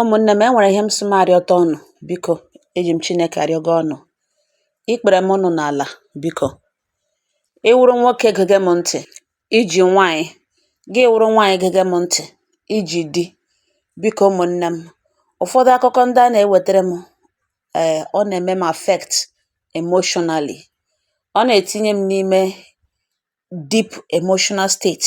Ụmụnne m, e nwere ihe m sị m arịọta unu biko. Eji m Chineke arịọgo unu. Ikpere m nọ n'ala biko. Ị wụrụ nwoke gege m ntị, i ji nwaanyị. Gị wụrụ nwaanyị gege m ntị, i ji di. Biko ụmụnne m, ụfọdụ akụkọ ndị a na-ewetara m, ee, ọ na-eme m affect emotionally. Ọ na-etinye m n'ime deep emotional state.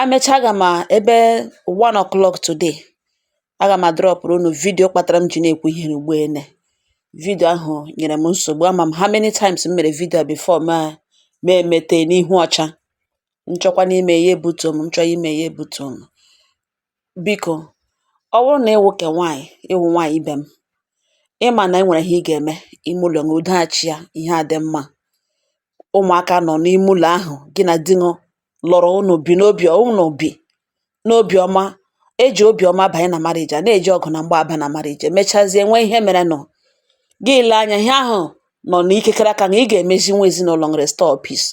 A mechaa aga m a ebe one o'clock today, aga m adrọpụrụ unu vidiyo kpatara m ji na-ekwu ihe ugbu ene. Vidiyo ahụ nyere m nsogbu ama m how many times m mere vidiyo a before mụ emete n'ihu ọcha. M chọkwanụ ime ya ebutuo m, m chọọ ime ya ebutuo m. Biko, ọ wụrụ na ị wụ ke nwaanyị, ị wụ nwaanyị ibe m, ị ma na e nwere ihe ị ga-eme ime ụlọ gị udo achịa, ihe adị mma. Ụmụaka nọ n'ime ụlọ ahụ, gị na di gị lụrụ unu bi n'obiọma eji obiọma banye na marriage a na-eji ọgụ na mgba aba na marriage emechazie nwee ihe merenụ gị lee anya ihe ahụ nọ n'ikekere aka na ị ga-emezi nwa ezinụlọ restore peace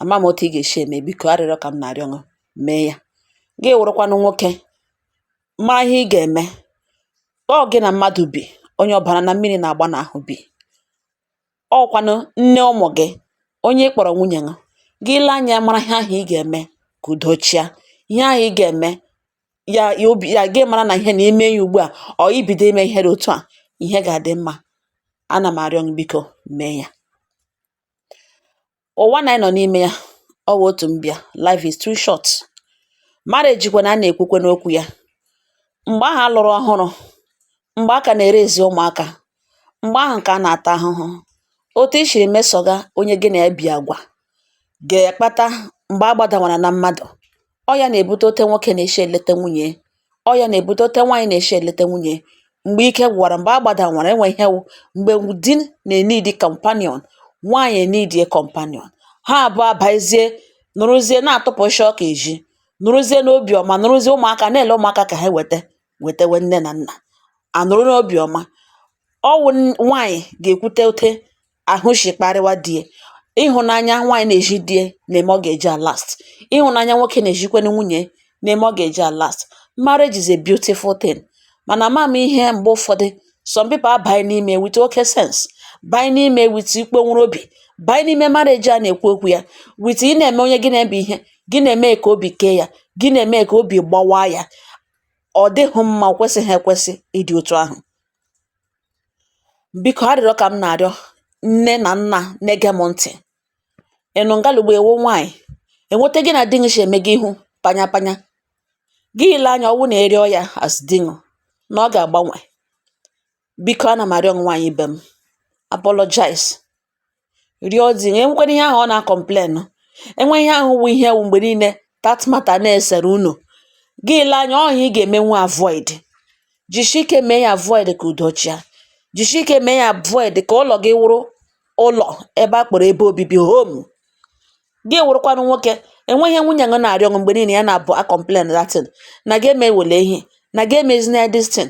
ama m otu ị ga-esi eme biko arịrịọ ka m na-arịọ ṅụ mee ya gị wụrụkwanụ nwoke ma ihe ị ga-eme ọ gị na mmadụ bi onye ọbara na mmiri na-agba n'ahụ bi ọọ kwanụ nne ụmụ gị, onye ị kpọrọ nwunye gị. Gị lee anya mara ihe ahụ ị ga-eme ka udo chịa. Ihe ahụ ị ga-eme, ya ya obi ya gị mara na ihe na i mee ya ugbu a or i bido ime ihe dị otu a, ihe ga-adị mma. Ana m arịọ gị biko mee ya. Ụwa na anyị nọ n'ime ya ọ wụ otu mbịa life is too short marriage kwa na a na-ekwukwanụ okwu ya mgbe ahụ a lụrụ ọhụrụ mgbe a ka na-erezi ụmụaka mgbe ahụ ka a na-ata ahụhụ otu i shiri mesọga onye gị na ya bi agwa ga-akpata mgbe a gbadawara na mmadụ ọ ya na-ebute ote nwoke na-eshi eleta nwunye ọ ya na-ebute ote nwaanyị na-eshi eleta nwunye mgbe ike gwụwara mgbe a gbadawara enwe ihe wụ mgbe di na-enidi companion nwaanyị enidie companion ha abụọ abazie nọrọzie na-atụpụ isi ọka eji nọrọzie n'obiọma nọrọzie ụmụaka na-ele ụmụaka ka ha weta wetewe nne na nna anọrọ n'obiọma ọ wụ nwaanyị ga-ekwute ote ahụ shi kparịwa di e ịhụnanya nwaanyị na-eji di e na-eme ọ ga-eji alast ịhụnanya nwoke na-ejikwanụ nwunye na-eme ọ ga-eji alast marriage is a beautiful thing mana ama m ihe mgbe ụfọdụ some people abanye n'ime with oke sense banye n'ime with ịkpọnwụrụ obi banye n'ime marriage a na-ekwu okwu ya with ị na-eme onye gị na ya bi ihe gị na-eme ka obi kee ya gị na-eme ka obi gbawaa ya ọ dịghị mma kwesịghị ekwesị ịdị otu ahụ biko arịrịọ ka m na-arịọ nne na nna na-ege m ntị ị nọ nga ugbu a ị wụ nwaanyị e nwee otu gị na di gị si eme gị ihu panya panya gị lee anya ọ wụ na ị rịọ ya as di gị na ọ ga-agbanwe biko ana m arịọ nwaanyị ibe m apologize rịọ di gị e nwekwanụ ihe ahụ ọ na-acomplain e nwee ihe ahụ wụ ihe wụ mgbe niile that matter na-esere unu gị lee anya ọ ihe ị ga-emenwu avoid jisie ike mee ya avoid ka udo chịa jisie ike mee ya avoid ka ụlọ gị wụrụ ụlọ ebe a kpọrọ ebe obibi home gị wụrụkwanụ nwoke e nwee ihe nwunye gị na-arịọ gị mgbe niile ya na-abụ a complain that thing na gị emewele ihe na gị emezina ya this thing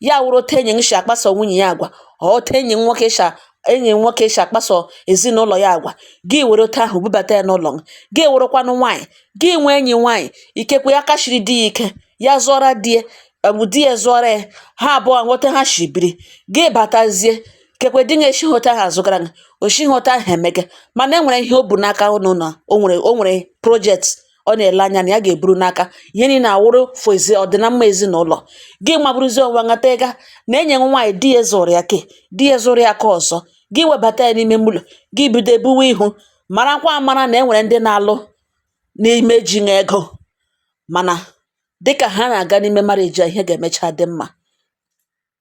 ya wụrụ otu enyi gị si akpaso nwunye ya agwa otu enyi gị nwoke si enyi gị nwoke si akpaso ezinụlọ ya agwa gị were otu ahụ bubata ya n'ụlọ gị gị wụrụkwanụ nwaanyị gị nwee enyi nwaanyị ikekwe ya kachiri di ya ike ya zụọra di ya di ya zụọra ya ha abụọ nwee otu ha si biri gị batazie ikekwe di gị esihụ otu ahụ azụgara gị o sihụ otu ahụ emega mana e nwere ihe o bu n'aka ụnụ na o nwere o nwere project ọ na-ele anya na ya ga-eburu n'aka ihe niile awụrụ for ezi ọdịnamma ezinụlọ gị mabụrụzi onwe nghata ịga na enyi gị nwaanyị di ya zụrụ ya ke di ya zụrụ ya ke ọzọ gị webata ya n'ime ụlọ gị bido ebuwe ihu marakwa amara na e nwere ndị na-alụ n'ime ejighị ego mana dịka ha na-aga n'ime marriage a ihe ga-emecha dị mma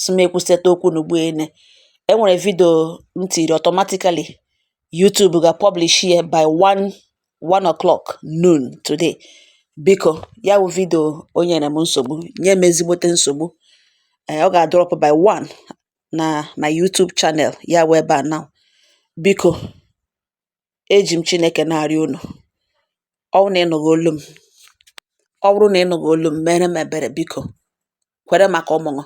sị m ekwusịta okwu n'ugbu ene e nwere vidio m tiri automatically YouTube ga-publish ya by 1 1 o'clock noon today biko ya wụ vidio o nyere m nsogbu nye m ezigbote nsogbu ee ọ ga-adrop by 1 na my YouTube channel ya wụ ebe a now biko eji m Chineke na-arịọ unu ọ bụrụ na ị nụghị olu m ọ bụrụ na ị nụghị olu m mere m ebere biko kwere maka ụmụ gị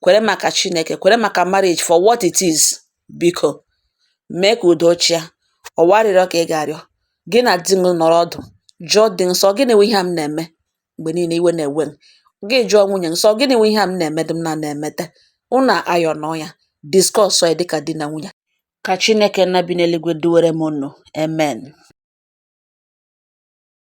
kwere maka chineke kwere maka marriage for what it is biko mee ka udo chịa ọ wụ arịrịọ ka ị ga-arịọ gị na di gị nọrọ ọdụ jụọ di gị sị ọ gịnị wụ ihe a m na-eme mgbe niile iwe na-ewe gị gị jụọ nwunye gị sị ọ gịnị wụ ihe a m na-eme dị m na na-emete unu iron ya discuss ya dịka di na nwunye ka chineke nna bi n'eluigwe duwere m unu amen